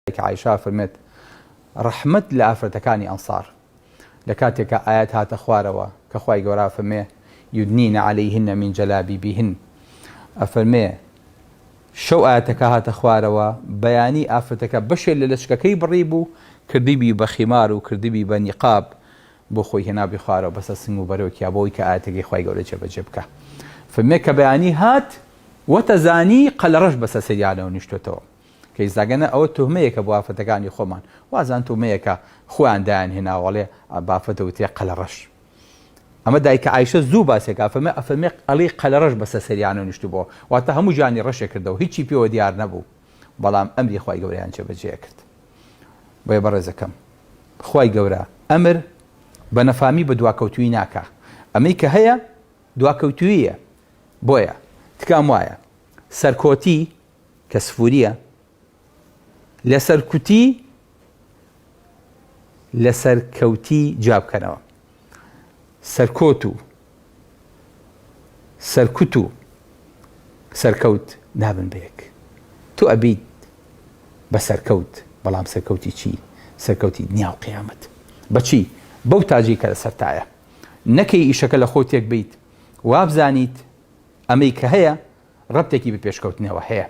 دایک عائیشە ئەفەرمێت، ڕەحمەت لە ئافرەتەکانی ئەنسار، لە کاتێکا ئایەت هاتە خوارەوە کە خوای گەورە ئەفەرمێ، یودنین علیهن من جلابیبهن، ئەفەرمێ، شەو ئایەتەکە هاتە خوارەوە، بەیانی ئافرەتەکە بەشێ لە لەچکەکەی بڕیبوو، کردبی بە خیمار و کردبی بە نیقاب، بۆ خۆی هێنابی خوارەوە بەسەر سنگ و بەرۆکیا بۆ ئەوەی کە ئایەتەکەی خوای گەورە جێ بەجێ بکا. ئەفەرمێ کە بەیانی هات وەتەزانی قەلەڕەش بەسەر سەریانەوە نیشتۆتەوە. کەیساگەنە ئەوە توهمەیەکە بۆ ئافرەتەکانی خۆمان وازان تومەیەکە خۆیان دایان هێناوە ئەڵێ بافرەت دەوترێ قەلەڕەش ئەمە دایکە ئایشە زوو باسێک ئەفەمە ئەفەمێ ئەڵی قەلەڕەش بەسە سەریانە نیشت بۆ واتە هەموو جانی ڕەشێ کردەوە هیچی پێوە دیار نەبوو بەڵام ئەمری خی گەوریان جێبەجێ کرد بۆیە بەڕێزەکەم خی گەورە ئەمر بە نەفامی بە دواکەوتوی ناکە ئەمەی کە هەیە دواکەوتویە بۆیە تکام وایە سەرکۆتی کە سفوریە لە سەرکوتی لە سەرکەوتی جیا بکەنەوە سەرکۆت و سەرکوت و سەرکەوت نابن بە یەک تۆ ئەبیت بە سەرکەوت بەڵام سەرکەوتی چی سەرکەوتی دنیا و قیامەت بەچی بەو تاجی کە لەسەرتایە نەکەی ئیشەکە لە خۆ تێک بیت وابزانیت ئەمەی کە هەیە رەبتێکی بە پێشکەوتنەوە هەیە.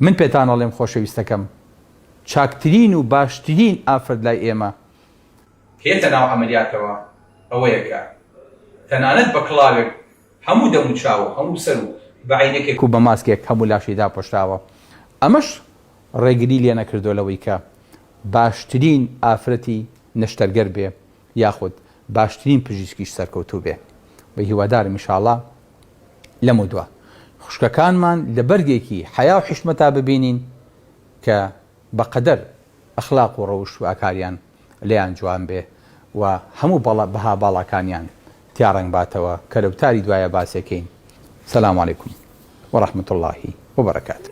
من پێتان ئەڵێم خۆشەویستەکەم، چاکترین و باشترین ئافرەت لای ئێمە، هێتە ناو عەمەلیاتەوە ئەوەیە کە تەنانەت بە کڵاوێک هەموو دەم و چاو و هەموو سەر و بە عەینەکێک و بە ماسکێک هەموو لاشی داپۆشراوە، ئەمەش رێگری لێنەکردووە لەوەی کە باشترین ئافرەتی نەشتەرگەر بێ، یاخود باشترین پژیسکیش سەرکەوتوو بێ و هیوادارم انشااللە لەمەو دوا خوشکەکانمان لە بەرگێکی حەیا و حیشمەتا ببینین کە بە قەدەر ئەخلاق و ڕەوشت و ئاکاریان لێیان جوان بێ و هەموو بەڵە بەها باڵاکانیان تیا ڕەنگ باتەوە کە لە وتاری دوایا باسێکەین سلام علیکم و رحمت اللە و برکاته.